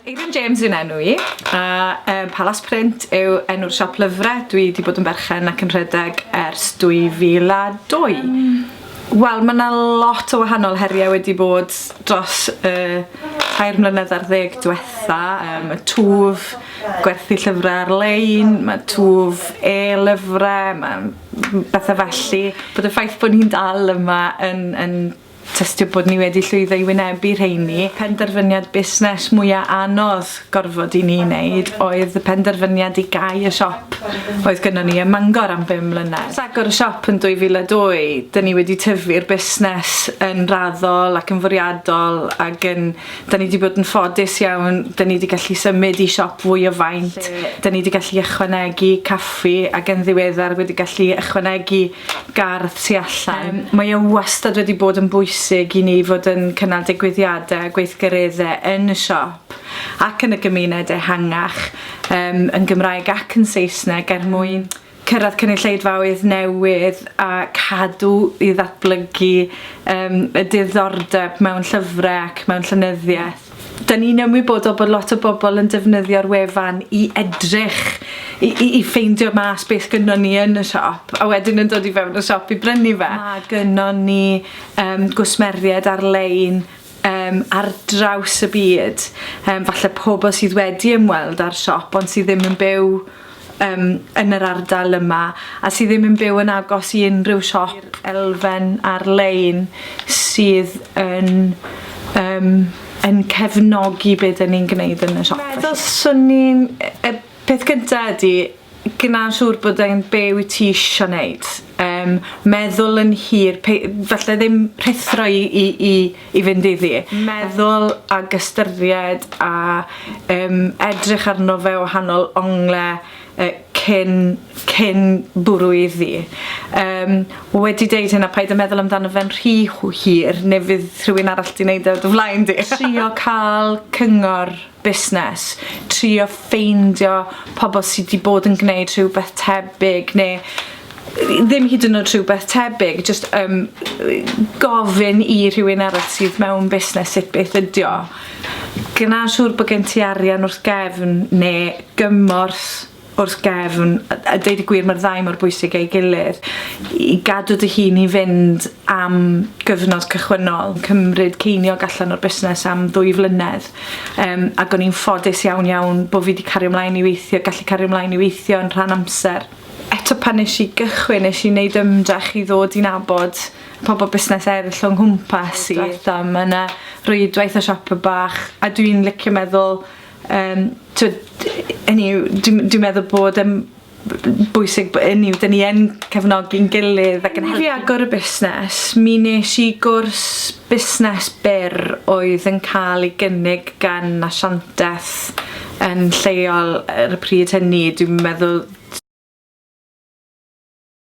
Eirian James yw'n enw i, a um, Palas Print yw enw'r siop lyfrau. Dwi wedi bod yn berchen ac yn rhedeg ers 2002. Um, Wel, mae yna lot o wahanol heriau wedi bod dros y uh, tair mlynedd ar ddeg diwetha. Um, y twf, gwerthu llyfrau ar-lein, mae twf e-lyfrau, mae bethau felly. Bod y ffaith bod ni'n dal yma yn, yn Tystio bod ni wedi llwyddo i wynebu rheini. Penderfyniad busnes mwya anodd gorfod i ni wneud oedd y penderfyniad i gau y siop oedd gynnon ni ym Mangor am bum mlynedd. Ers agor y siop yn 2002, dyn ni wedi tyfu'r busnes yn raddol ac yn fwriadol ag yn... dyn ni 'di bod yn ffodus iawn, dyn ni 'di gallu symud i siop fwy o faint, dyn ni 'di gallu ychwanegu caffi ac yn ddiweddar wedi gallu ychwanegu gardd tu allan. Yym mae e wastad wedi bod yn bwysig i ni fod yn cynnal digwyddiade a gweithgaredde yn y siop ac yn y gymuned ehangach yym yn Gymraeg ac yn Saesneg er mwyn cyrradd cynulleidfaoedd newydd a cadw i ddatblygu yym y diddordeb mewn llyfre ac mewn llenyddieth. Da ni'n ymwybodol bod lot o bobl yn defnyddio'r wefan i edrych, i, i, i ffeindio mas beth gynnon ni yn y siop, a wedyn yn dod i fewn y siop i brynu fe. Mae gynnon ni um, gwsmeriaid ar-lein um, ar draws y byd, um, falle pobl sydd wedi ymweld â'r siop ond sydd ddim yn byw yym yn yr ardal yma a sy ddim yn byw yn agos i unrhyw siop elfen ar-lein sydd yn yym yn cefnogi be' 'dyn ni'n gneud yn y siop felly. Meddwl swn i'n y peth gynta ydi gneud siŵr bod e'n be' wyt ti isio neud yym meddwl yn hir pei- falle ddim rhuthro i i i i fynd iddi. Meddwl ag ystyried a um, edrych arno fe wahanol ongle uh, cyn, cyn bwrw iddi. Um, wedi deud hynna, paid y meddwl amdano fe'n rhy hir, neu fydd rhywun arall di wneud e o dy flaen di. Trio cael cyngor busnes, trio ffeindio pobl sy 'di bod yn gwneud rhywbeth tebyg neu ddim hyd yn oed rhywbeth tebyg, jyst um, gofyn i rhywun arall sydd mewn busnes sut beth ydio. Gwna siŵr bod gen ti arian wrth gefn neu gymorth wrth gefn, a deud y gwir mae'r ddau mor bwysig ei gilydd, i gadw dy hun i fynd am gyfnod cychwynnol, cymryd ceiniog allan o'r busnes am ddwy flynedd, um, ac o'n i'n ffodus iawn iawn bod fi wedi cario ymlaen i weithio, gallu cario ymlaen i weithio yn rhan amser. Eto pan nes i gychwyn, nes i wneud ymdrech i ddod i'n abod pobl busnes eraill o'n nghwmpas i. Dwetha, mae yna rwydwaith o siop y bach, a dwi'n licio meddwl Yym t'wod hynny yw dwi m- dwi meddwl bod e'n b- b- bwysig bo' ynny yw 'dyn ni yn cefnogi'n gilydd ac yn helpu... Fi agor y busnes mi nesh i gwrs busnes byr oedd yn ca'l ei gynnig gan asianteth yn lleol ar y pryd hynny dwi'n meddwl